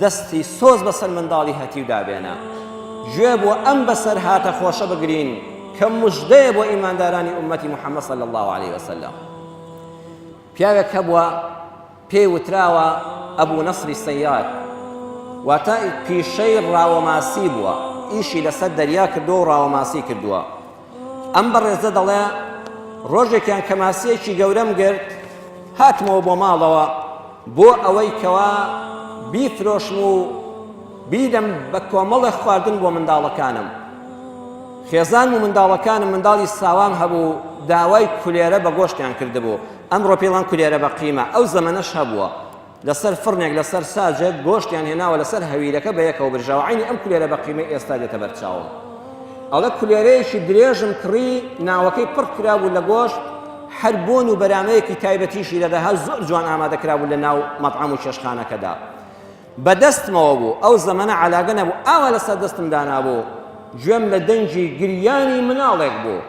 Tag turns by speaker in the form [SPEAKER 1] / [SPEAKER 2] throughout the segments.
[SPEAKER 1] دەستی سۆز بەسەر منداڵی هەتیو دابێنە، گوێ بۆ ئەم بەسەرهاتە خۆشە بگرین کە مژدەیە بۆ ئیماندارانی ئوممەتی محەممەد صلی اللە علیە وسلم. پیاوێک هەبووە پێی وتراوە ئەبو نەسری سەیاد، واتە پیشەی ڕاوەماسی بووە، ئیشی لەسەر دەریا کردووە و ڕاوەماسی کردووە. ئەم بەڕێزە دەڵێ ڕۆژێکیان کە ماسیەکی گەورەم گرت هاتمەوە بۆ ماڵەوە بۆ ئەوەی کەوا بیفرۆشم و بیدەم بە کۆمەڵێک خواردن بۆ منداڵەکانم خێزان و منداڵەکانم منداڵی ساوام هەبوو داوای کولێرە بە گۆشتیان کردبوو ئەمڕۆ پێڵان کولێرە بە قیمە ئەو زەمەنەش هەبووە لەسەر فڕنێک لەسەر ساجێک گۆشتیان هێناوە لەسەر هەویرەکە بەیەکەوە برژاوە عەینی ئەم کولێرە بە قیمەی ئێستا دێتە بەر چاوم ئەڵە کولێرەیەکی درێژم کڕی ناوەکەی پڕ کرابوو لە گۆشت هەر بۆن و بەرامەیەکی تایبەتیشی لەدەها زۆر جوان ئامادە کرابوو لە ناو مەطعەم و چێشخانەکەدا بەدەستمەوە بوو ئەو زەمەنە علاگە نەبوو ئاوا لەسەر دەستم دانابوو گوێم لە دەنگی گریانی مناڵێک بوو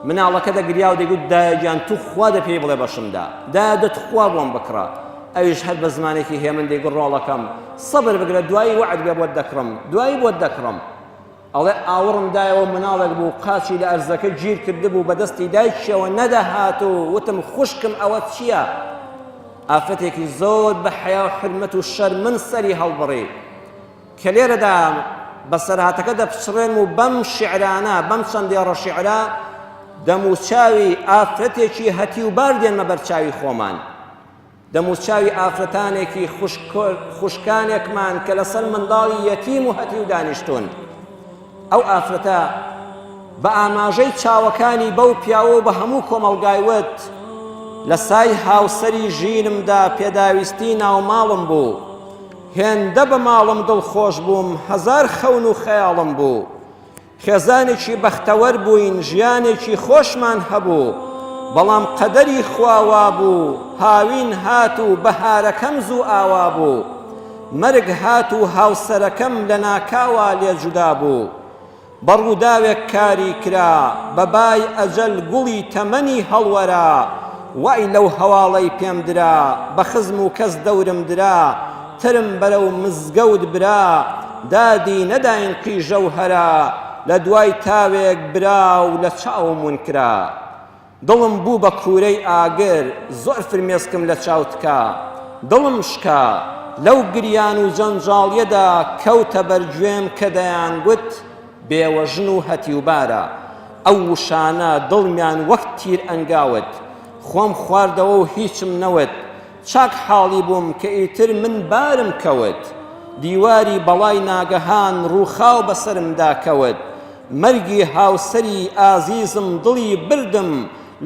[SPEAKER 1] مناڵەکە دەگریا و دەگوت دایە گیان تو خوا دە پێی بڵێ بەشمدا دا دە تخوا بۆم بکڕە ئەویش هەر بە زمانێکی هێمن دەیگوت ڕۆڵەکەم سەبر بگرە دوایی وەعد بێ بۆت دەکڕم دوایی بۆت دەکڕم ئەڵێ ئاوڕم دایەوە مناڵێک بوو قاچی لە ئەرزەکە گیر کردبوو بەدەستی دایکیەوە نەدەهات و وتم خوشکم ئەوە چییە؟ ئافرەتێکی زۆر بە حەیا و حرمەت و شەرمن سەری هەڵبڕی کە لێرەدا بەسەرهاتەکە دەپچڕێنم و بەم شیعرانە، بەم چەند دێڕە شیعرە دەموچاوی ئافرەتێکی هەتیوبار دێنمە بەر چاوی خۆمان، دەموچاوی ئافرەتانێکی خوشکانێکمان کە لەسەر منداڵی یەتیم و هەتیو دانیشتوون. ئەو ئافرەتە بە ئاماژەی چاوەکانی بەو پیاوە بە هەموو کۆمەڵگای وت، لە سای هاوسەری ژینمدا پێداویستی ناوماڵم بوو، هێندە بە ماڵم دڵخۆش بووم، هەزار خەون و خەیاڵم بوو. خێزانێکی بەختەوەر بووین، ژیانێکی خۆشمان هەبوو. بەڵام قەدەری خوا وا بوو، هاوین هات و بەهارەکەم زوو ئاوا بوو. مەرگ هات و هاوسەرەکەم لەناکاوا لێ جودا بوو. بە ڕووداوێک کاری کرا، بە بای ئەجەل گوڵی تەمەنی هەڵوەرا، وای لەو هەواڵەی پێم درا، بە خزم و کەس دەورم درا، ترم بەرەو مزگەوت برا، دادی نەداین قیژە و هەرا، لە دوای تاوێک برا و لە چاوم ون کرا. دڵم بوو بە کوورەی ئاگر زۆر فرمێسکم لە چاو تکا دڵم شکا لەو گریان و جەنجاڵیەدا کەوتە بەر گوێم کە دەیانگوت بێوەژن و هەتیوبارە ئەو وشانە دڵمیان وەک تیر ئەنگاوت خۆم خواردەوە و هیچم نەوت چاک حاڵی بووم کە ئیتر من بارم کەوت، دیواری بەڵای ناگەهان ڕووخاو بەسەرمدا کەوت، مەرگی هاوسەری ئازیزم دڵی بردم،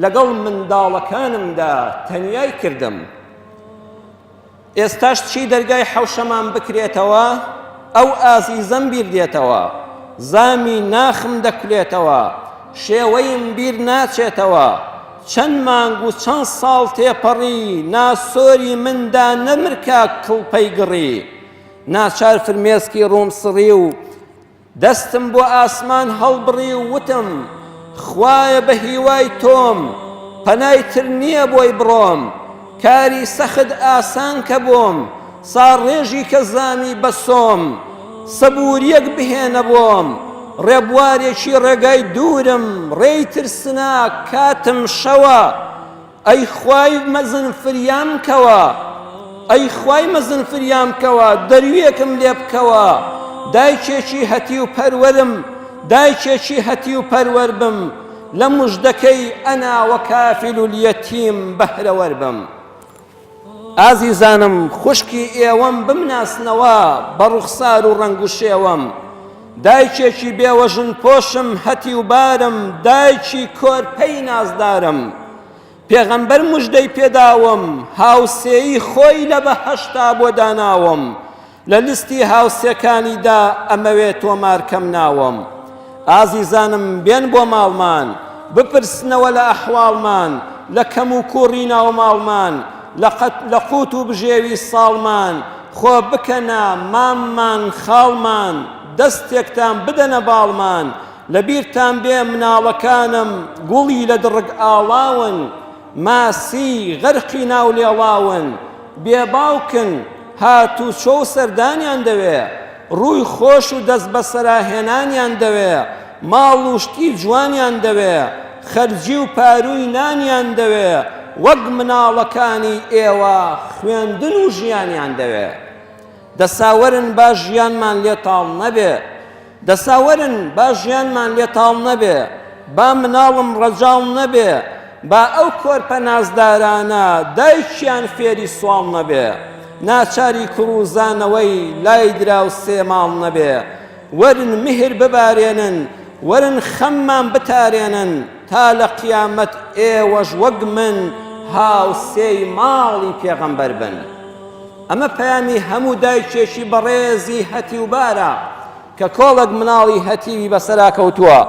[SPEAKER 1] لەگەڵ منداڵەکانمدا تەنیای کردم. ئێستاش چی دەرگای حەوشەمان بکرێتەوە، ئەو ئازیزەم بیر دێتەوە، زامی ناخم دەکولێتەوە، شێوەیم بیر ناچێتەوە، چەند مانگ و چەند ساڵ تێپەڕی ناسۆری من دا نەمر کاک کڵپەی گڕی ناچار فرمێسکی ڕووم سڕی و دەستم بۆ ئاسمان هەڵبڕی و وتم خوایە بە هیوای تۆم پەنای تر نییە بۆی بڕۆم کاری سەخت ئاسان کە بۆم. ساڕێژی کە زامی بە سۆم. سەبوورییەک بهێنە بۆم. ڕێبوارێکی ڕێگای دوورم. ڕێی ترسناک، کاتم شەوە. ئەی خوای مەزن فریام کەوە. ئەی خوای مەزن فریام کەوە. دەرویێکم لێ بکەوە. دایکێکی هەتیو پەروەرم. دایکێکی هەتیو پەروەر بم. لە مژدەکەی انا وکافل الیتیم بەهرەوەر بم. ئازیزانم خوشکی ئێوەم بمناسنەوە بە ڕوخسار و ڕەنگ و شێوەم، دایکێکی بێوەژن پۆشم هەتیو بارم دایکی کۆرپەی نازدارم، پێغەمبەر مژدەی پێداوم هاوسێی خۆی لە بەهەشتا بۆ داناوم، لە لیستی هاوسێکانیدا ئەمەوێ تۆمار کەم ناوم ئازیزانم بێن بۆ ماڵمان بپرسنەوە لە ئەحواڵمان لە کەم و کوڕی ناو ماڵمان لە قوت و بژێوی ساڵمان خۆ بکەنە ماممان خاڵمان دەستێکتان بدەنە باڵمان لەبیرتان بێ مناڵەکانم گوڵی لە دڕک ئاڵاون ماسی غەرقی ناو لێڵاون، بێ باوکن، هاتووچۆ و سەردانیان دەوێ، ڕووی خۆش و دەستبەسەرا هێنانیان دەوێ، ماڵ و شتی جوانیان دەوێ، خەرجی و پارووی نانیان دەوێ، وەک مناڵەکانی ئێوە خوێندن و ژیانیان دەوێ. دەسا وەرن با ژیانمان لێ تاڵ نەبێ دەسا وەرن با ژیانمان لێ تاڵ نەبێ با مناڵم ڕەجاڵ نەبێ با ئەو کۆرپە نازدارانە دایکیان فێری سواڵ نەبێ ناچاری کوڕ و زانەوەی لای دراو سێ ماڵ نەبێ وەرن مهر ببارێنن وەرن خەممان بتارێنن تا لە قیامەت ئێوەش وەک من هاوسێی ماڵی پێغەمبەر بن ئەمە پەیامی هەموو دایکێکی بەڕێزی هەتیوبارە کە کۆڵێک مناڵی هەتیوی بەسەرا کەوتووە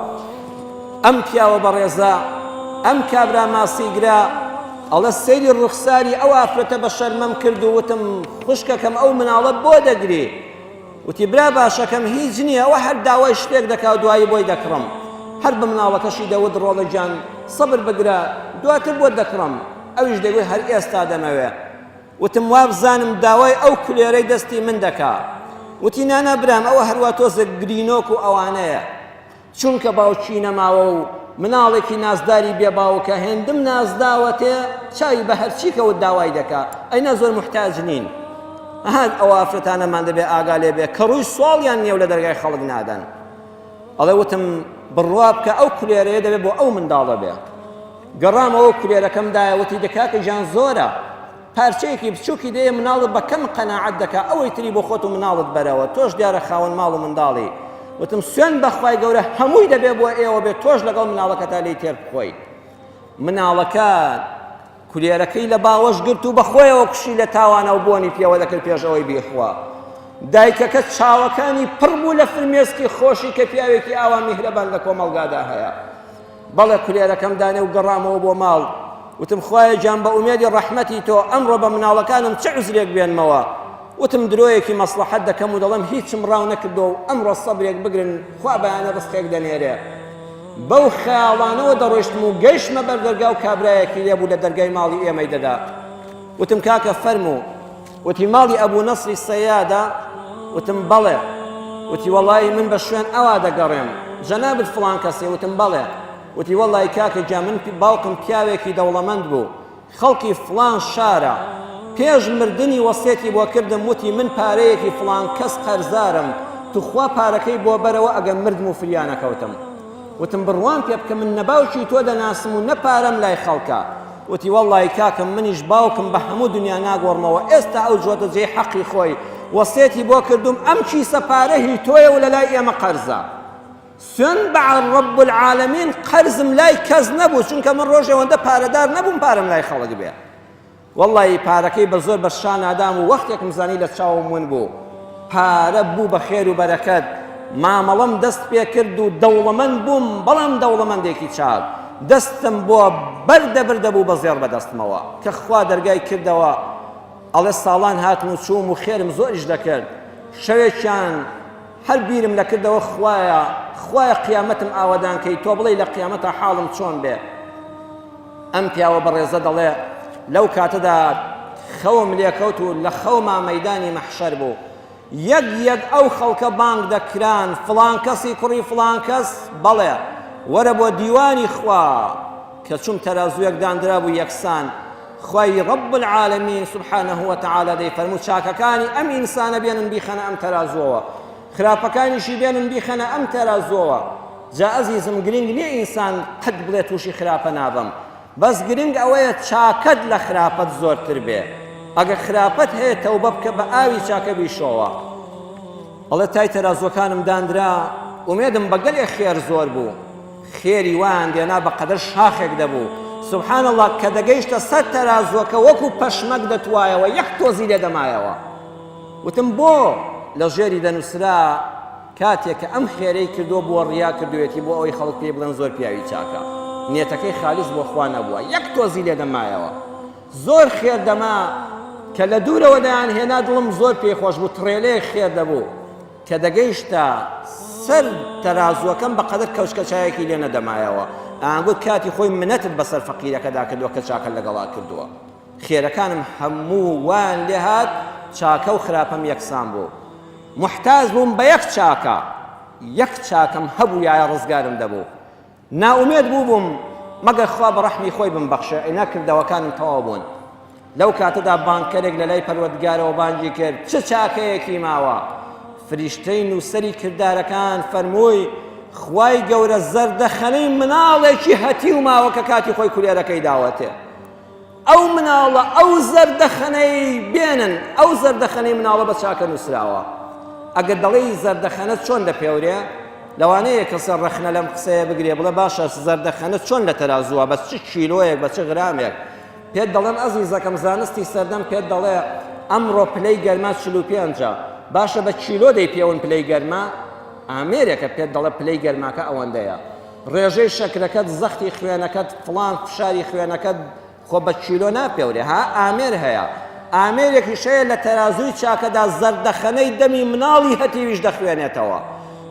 [SPEAKER 1] ئەم پیاوە بەڕێزە ئەم کابرا ماسیگرا ئەڵە سەیری ڕوخساری ئەو ئافرەتە بە شەرمەم کرد و وتم خوشکەکەم ئەو مناڵە بۆ دەگری وتی برا باشەکەم هیچ نییە ئەوە هەر داوای شتێک دەکا دوایی بۆی دەکڕم هەر بە مناڵەکەشی دەوت ڕۆڵە گیان سەبر بگرە دواتر بۆت دەکڕم ئەویش دەگوێ هەر ئێستا دەمەوێ وتم وابزانم داوای ئەو کولێرەی دەستی من دەکا وتی نانا برام ئەوە هەروە تۆزە گرینۆک و ئەوانەیە چونکە باوکی نەماوە و مناڵێکی نازداری بێ باوکە هێندم نازداوەتێ چاوی بە هەرچی کەوت داوای دەکا ئەینا زۆر محتاج نین هەر ئەو ئافرەتانەمان دەبێ ئاگا لێ بێ کە ڕووی سواڵیان نیێو لە دەرگای خەڵک نادەن ئەڵێ وتم بڕوا بکە ئەو کولێرەیە دەبێت بۆ ئەو منداڵە بێ گەڕامەوە کولێرەکەم دایە وتی دەکاکە گیان زۆرە پارچەیەکی بچوکی دەیە مناڵت بە کەم قەناعەت دەکا ئەوەی تری بۆ خۆت و مناڵت بەرەوە تۆش دیارە خاوەن ماڵ و منداڵی وتم سوێن بەخوای گەورە هەمووی دەبێ بۆ ئێوە بێت تۆش لەگەڵ مناڵەکەتا لی تێر بخۆی مناڵەکە کولێرەکەی لە باوەش گرت و بەخۆیەوە کوشی لە تاوانە و بۆنی پێوە دەکرد پێشەوەی بیخوا دایکەکە چاوەکانی پڕ بوو لە فرمێسکی خۆشی کە پیاوێکی ئاوا میهرەبان لە کۆمەڵگادا هەیە بەڵێ کولێرەکەم دانێ و گەڕامەوە بۆ ماڵ وتم خوایە گیان بە ئومێدی ڕەحمەتی تۆ ئەمڕۆ بە مناڵەکانم چ عوزرێک بێنمەوە وتم درۆیەکی مەسڵەحەت دەکەم و دەڵێم هیچم ڕاو نەکردو و ئەمڕۆ سەبرێک بگرن خوا بەیانە ڕزقێک دەنێرێ بەو خەیاڵانەوە دەڕۆیشتم و گەیشتمە بەر دەرگا و کابرایەکی لێبوو لە دەرگای ماڵی ئێمەی دەدا وتم کاکە فەرموو وتی، ماڵی ئەبوو نەسری سەیادە؟ وتم، بەڵێ. وتی، وەڵڵاهی من بە شوێن ئەوا دەگەڕێم. جەنابت فڵان کەسی؟ وتم، بەڵێ. وتی، وەڵڵاهی کاکە گیان من باوکم پیاوێکی دەوڵەمەند بوو، خەڵکی فڵان شارە، پێش مردنی وەسیەتی بۆ کردم، وتی، من پارەیەکی فڵان کەس قەرزارم، توخوا پارەکەی بۆ بەرەوە ئەگەر مردم و فریا نەکەوتم. وتم، بڕوام پێ بکە من نە باوکی تۆ دەناسم و نە پارەم لای خەڵکە. وتی وەڵڵایی کاکم منیش باوکم بە هەموو دنیا ناگۆڕمەوە ئێستا ئەو جووتە جێی حەقی خۆی وەسێتی بۆ کردووم ئەم کیسە پارە هی تۆیە و لەلای ئێمە قەرزە سوێن بە رب العالمین قەرزم لای کەس نەبوو چونکە من ڕۆژێ وەندە پارەدار نەبووم پارەم لای خەڵک بێ وەڵڵایی پارەکەی بە زۆر بە شانادام و وەختێکم زانی لە چاوم ون بوو پارە بوو بە خێر و بەرەکەت، مامەڵەم دەست پێ کرد و دەوڵەمەند بووم، بەڵام دەوڵەمەندێکی چاک، دەستم بۆ بەر دەبرد دەبوو بە زێڕ بە دەستمەوە، کە خوا دەرگای کردەوە، ئەڵێ ساڵان هاتم و چووم و خێرم زۆریش دەکرد، شەوێکیان هەر بیرم لە کردەوە خوایە، خوایە قیامەتم ئاوەدان کەی، تۆ بڵێی لە قیامەتا حاڵم چۆن بێ؟ ئەم پیاوە بەڕێزە دەڵێ لەو کاتەدا خەوم لێکەوت و لە خەوما مەدانی مەحشەر بوو یەک یەک ئەو خەڵکە بانگ دەکران فلان کەسی کوڕی فلان کەس بەڵێ وەرە بۆ دیوانی خوا کە چوم تەرازویەک داندرا بوو یەکسان خوای رب العالمین سبحانه وتعالى دەی فەرموو چاکەکانی ئەم ئینسانە بێنن بیخەنە ئەم تەرازوەوە خراپەکانیشی بێنن بیخەنە ئەم تەرازوەوە جا ئەزیزم گرینگ نیە ئینسان قەت بڵێ توشی خراپە نابم بەس گرینگ ئەوەیە چاکەت لە خراپەت زۆرتر بێ ئەگە خراپەت هەیە تەوبە بکە بە ئاوی چاکە بیشۆوە ئەڵێ تای تەرازوەکانم دانرا ئومێدم بە گەلێ خێر زۆر بوو خێری وایان دێنا بە قەدەر شاخێک دەبوو سبحان اللە کە دەگەیشتە سەر تەرازوەکە وەکو پەشمەک دەتوایەوە یەک تۆزی لێ دەمایەوە وتم بۆ؟ لە ژێری دەنووسرا کاتێ کە ئەم خێرەی کردووە بووە ڕیا کردوویەتی بۆ ئەوەی خەڵک پێی بڵێن زۆر پیاوی چاکە. نیەتەکەی خالیس بۆ خوا نەبووە. یەک تۆزی لێ دەمایەوە. زۆر خێر دەما. کە لە دوورەوە دەیانهێنا دڵم زۆر پێی خۆش بوو. تڕێلێک خێر دەبوو. کە دەگەیشتە سەر تەرازووەکەم بە قەدەر کەوچکە چایەکی لێ نەدەمایەوە. ئەیانگوت کاتی خۆی منەتت بەسەر فەقیرەکەدا کردووە کە چاکە لەگەڵا کردووە. خێرەکانم هەموو وایان لێ هات چاکە و خراپەم یەکسان بوو موحتاج بووم بە یەک چاکە یەک چاکەم هەبوویایە ڕزگارم دەبوو نائومێد بووبووم مەگەر خوا بە ڕەحمی خۆی بمبەخشێ ئەینا کردەوەکانم تەواو بوون لەو کاتەدا بانکەرێک لە لای پەروەردگارەوە بانگی کرد چ چاکەیەکی ماوە فریشتەی نووسەری کردارەکان فەرمووی خوای گەورە زەردەخەنەی مناڵێکی هەتی و ماوە کە کاتی خۆی کولێرەکەی داوەتێ ئەو مناڵە ئەو زەردەخەنەی بێنن ئەو زەردەخەنەی مناڵە بە چاکە نووسراوە ئەگەر دەڵێی زەردەخەنە چۆن دەپێورێ لەوانەیە کەسە ڕەخنە لەم قسەیە بگرێ بڵێ باشە زەردەخەنە چۆن لە تەرازووە بەس چ کیلۆیەک بە چ غرامێک پێت دەڵێم ئەزیزەکەم زانستی سەردەم پێت دەڵێ ئەمڕۆ پلەی گەرما چل و پێنجە باشە بە کیلۆ دەی پێون پلەی گەرما ئامێرێکە پێت دەڵێ پلەی گەرماکە ئەوەندەیە ڕێژەی شەکرەکەت زەختی خوێنەکەت فڵان فشاری خوێنەکەت خۆ بە کیلۆ ناپێورێ ها ئامێر هەیە ئامێرێکیش هەیە لە تەرازووی چاکەدا زەردەخەنەی دەمی مناڵی هەتیویش دەخوێنێتەوە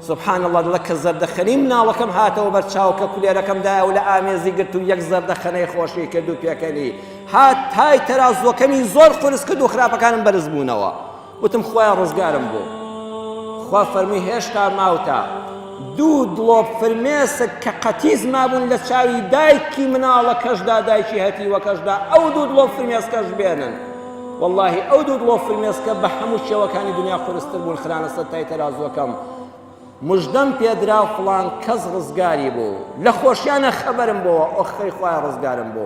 [SPEAKER 1] سبحان الله دڵە کە زەردەخەنی مناڵەکەم هاتەوە بەر چاو کە کولێرەکەم دایە و لە ئامێزی گرت و یەک زەردەخەنەی خۆشی کرد و پێکەنی هات تای تەرازوەکەمی زۆر قورس کرد و خراپەکانم بەرز بوونەوە وتم خوایە ڕزگارم بۆ. خوا فەرمووی هێشتا ماوتە دوو دڵۆپ فرمێسک کە قەتیس مابوون لە چاوی دایکی مناڵەکەشدا دایکی هەتیوەکەشدا ئەو دوو دڵۆپ فرمێسکەش بێنن واللهی ئەو دوو دڵۆپ فرمێسکە بە هەموو شێوەکانی دنیا قورستر بوون خرانە سەر تای تەرازوەکەم مژدەم پێدرا فڵان کەس ڕزگاری بوو لە خۆشیانە خەبەرم بۆوە ئۆخەی خوای ڕزگارم بۆ